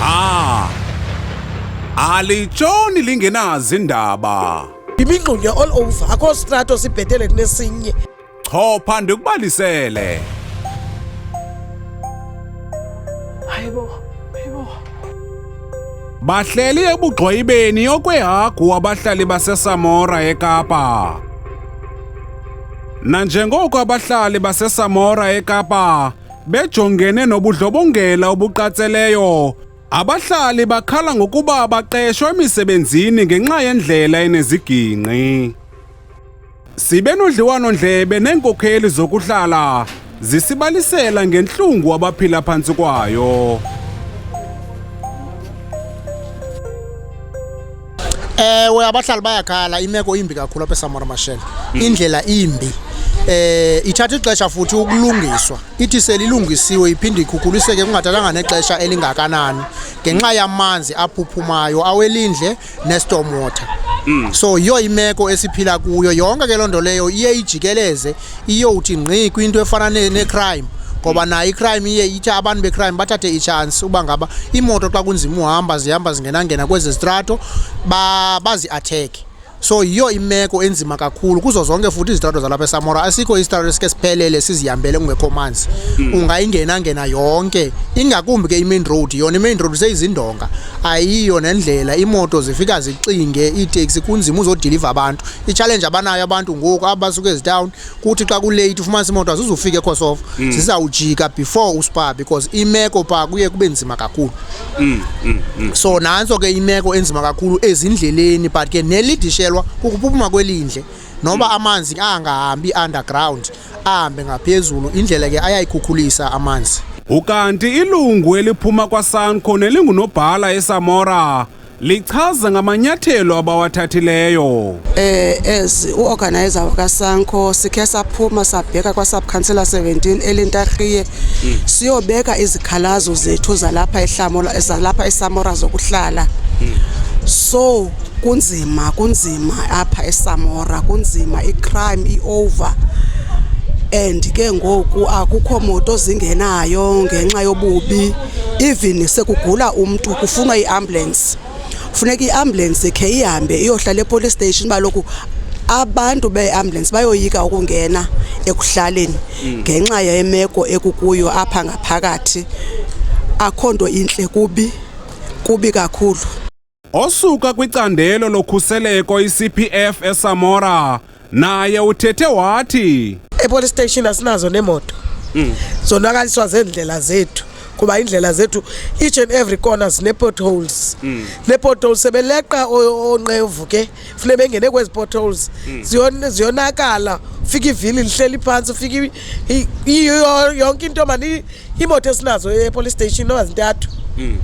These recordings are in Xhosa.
Ah! Alitshoni lingenazi indaba. Imingxunya all over akho strato sibhetele kunesinye. Chopha ndikubalisele. Hayibo, hayibo. Bahleli ebugxwayibeni okwehagu abahlali baseSamora eKapa. Nanjengoko abahlali baseSamora eKapa bejongene nobudlobongela obuqatseleyo. Abahlali bakhala ngokuba baqeshwa emisebenzini ngenxa yendlela enezigingqi. Sibe nodliwano-ndlebe neenkokheli zokuhlala zisibalisela ngentlungu abaphila phantsi kwayo. Ewe, abahlali bayakhala, imeko imbi kakhulu apha eSamora Mashele. Hmm. Indlela imbi. Eh ithatha ixesha futhi ukulungiswa. Ithi selilungisiwe iphinde ikhukuliseke kungathathanga nexesha elingakanani ngenxa yamanzi aphuphumayo awelindle nestorm water. Hmm. So yiyo imeko esiphila kuyo yonke ke loo nto leyo iye ijikeleze iyowuthi ngqi kwinto efana necrime ngoba nayo icrime iye ithi abantu becrime bathathe itshansi uba ngaba iimoto xa kunzima uhamba zihamba zingenangena kwezi zitrato baziathekhe so yiyo imeko enzima kakhulu kuzo zonke futhi izitrato zalapha esamora asikho isitrato esike siphelele sizihambele kungekho manzi mm. ungayingenangena yonke ingakumbi ke imain road yona imain road seyizindonga ayiyo nendlela imoto zifika zixinge iiteksi kunzima uzodiliva abantu itshalenje abanayo abantu ngoku aba basuke ezitawuni kuthi xa kuleyithi ufumanisa imoto azizufika ekhosofa mm. zizawujika before uspa because imeko phaa kuye kube nzima kakhulu mm, mm, so nantso ke imeko enzima kakhulu ezindleleni but ke nelidishelwa kukuphuma kwelindle noba amanzi angahambi underground ahambe ngaphezulu indlela ke ayayikhukhulisa amanzi ukanti ilungu eliphuma kwasanco nelingunobhala esamora lichaza ngamanyathelo abawathathileyo. Eh as uorganizer wakaSanko sikhe saphuma sabheka kwaSubcouncillor 17 elintarhiye hmm. siyobeka izikhalazo zethu zalapha ehlamola zalapha eSamora zokuhlala. Hmm. So kunzima kunzima apha eSamora kunzima icrime iover and ke ngoku akukho moto zingenayo ngenxa yobubi even sekugula umntu kufunwa iambulance funeka iambulance khe ihambe iyohlala epolice station uba loku abantu beambulance bayoyika ukungena ekuhlaleni mm. ngenxa yemeko ekukuyo apha ngaphakathi akho nto intle kubi kubi kakhulu Osuka kwicandelo lokhuseleko iCPF eSamora naye uthethe wathi epolice station asinazo nemoto mm. zonakaliswa zeendlela zethu kuba indlela zethu each and every corner zine-potholes mm. ne-potholes sebeleqa onqevu ke funeka bengene kwezi potholes hmm. ziyonakala ufike ivili lihleli phantsi ufike yonke into mani iimoto esinazo epolice station noba zintathu hmm.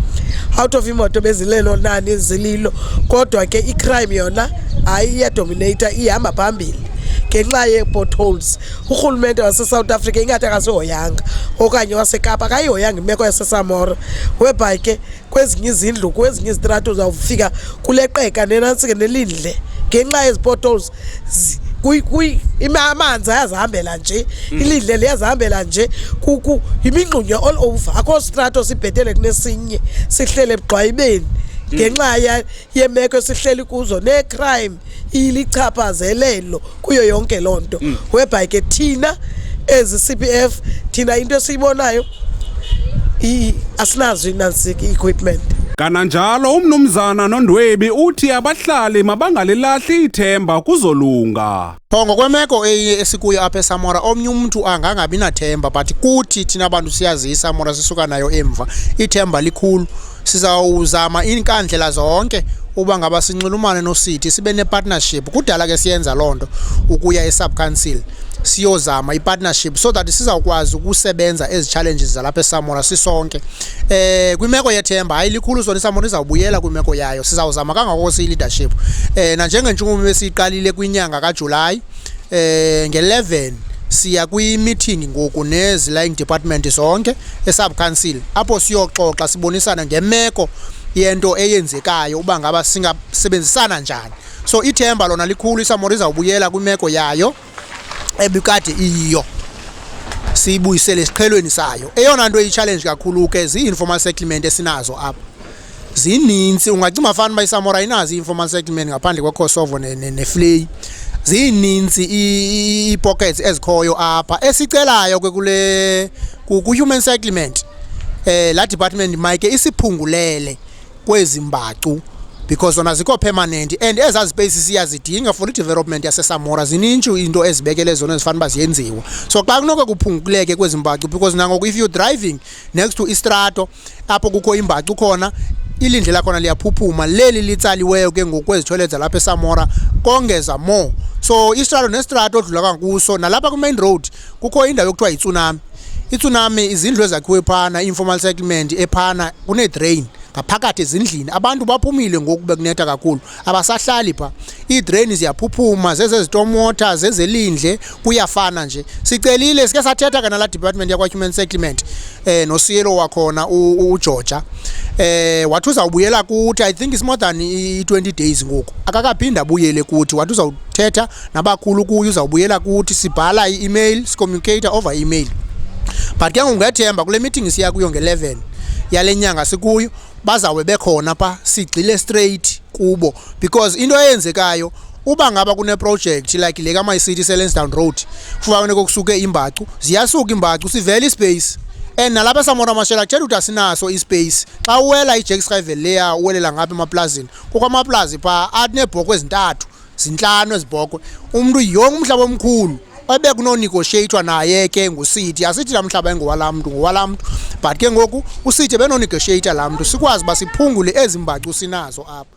out of imoto bezilelo nani zililo kodwa ke icrime yona hayi iyadominata ihamba phambili ngenxa yee-potholes urhulumente wasesouth africa ingathi akasihoyanga okanye wasekapa akayihoyanga imeko yasesamora webhayi ke kwezinye izindlu kwezinye izitrato uzawufika kuleqeka nenantsi ke nelindle ngenxa yezi potholes amanzi ayazihambela nje mm. ilindle liyazihambela nje yimingxunya all over akho strato sibhetele kunesinye sihlele ebugqwayibeni mm. ngenxa yeemeko esihleli kuzo neecrime ilichaphazelelo kuyo yonke loo nto mm. whereby ke thina ezi c p f thina into esiyibonayo asinazo inansik i-equipment kananjalo umnumzana nondwebi uthi abahlali mabangalilahli ithemba kuzolunga Qho ngokwemeko eye esikuyo apha esamora omnye umntu angangabi nathemba but kuthi thina bantu siyaziyo isamora sisuka nayo emva ithemba likhulu sizawuzama iinkandlela zonke uba ngaba sinxulumane nosithi sibe nepartnership kudala ke siyenza loo nto ukuya esubcouncil siyozama ipartnership so that sizawukwazi ukusebenza ezi challenges zalapha esamora sisonke eh kwimeko yethemba hayi likhulu sona isamoni izawubuyela kwimeko yayo sizawuzama kangako siyi-leadership eh nanjengentshukumo besiyiqalile kwinyanga kajulayi eh nge-11 siya kwi-meeting ngoku nezi-lying department zonke esubcouncil apho siyoxoxa sibonisana ngemeko yento eyenzekayo uba ngaba singasebenzisana njani so ithemba lona likhulu isamori izawubuyela kwimeko yayo ebikade iyiyo siyibuyisele esiqhelweni sayo eyona nto iyi-challenge kakhulu ke zii-informal settlement esinazo apha zininzi ungacinga fana uba isamora inazo i-informal settlement ngaphandle kwekosovo nefleyi zininzi ii-pockets ezikhoyo apha esicelayo ke kule ku-human settlement eh la department mayike isiphungulele kwezi mbacu because zona zikho permanent and ezaa space siyazidinga for i-development yasesamora zininji into ezibekele zona ezifanele uba ziyenziwa so xa kunoke kuphunguleke kwezi mbacu because nangoku if you're driving next to istrato apho kukho imbacu khona ilindle lakhona liyaphuphuma leli litsaliweyo ke ngoku kwezithoyile zalapha esamora kongeza more so istrato nestrato odlula kankuso nalapha kwi-main road kukho indawo yokuthiwa yitsunami itsunami izindlu ezakhiwe phana informal settlement ephana kunedrain ngaphakathi ezindlini abantu baphumile ngoku bekunetha kakhulu abasahlali pha iidraini ziyaphuphuma zezezitomota zezelindle kuyafana nje sicelile sike sathetha kanala department yakwa-human settlement um nosiyelo wakhona ugeorgia um eh, wathi uzawubuyela kuthi i think is more than i-twenty days ngoku akakaphinde abuyele kuthi wathi uzawuthetha nabakhulu kuyo uzawubuyela kuthi sibhala i-email sicommunicate over email but ke ngoku ngethemba kule meeting siya kuyo nge-11 yale nyanga sikuyo bazawube bekhona pha sigxile straight kubo because into eyenzekayo uba ngaba kuneproject like le kama city selenstown road kufanele kokusuke imbacu ziyasuka imbacu sivele ispace and nalapha samora mashela tshela ukuthi asinaso ispace xa uwela ijack skyvel leya uwelela ngapha emaplazini kukho amaplazi phaa anebhoko ezintathu zintlanu ezibhokhwe umntu yonke umhlaba omkhulu ebekunonegoshiyeyithwa naye ke ngusithi asithi laa mhlaba engowalaa mntu ngowalaa mntu but ke ngoku usithi ebenonegoshiyeyitha laa mntu sikwazi uba siphungule ezi mbacu sinazo apha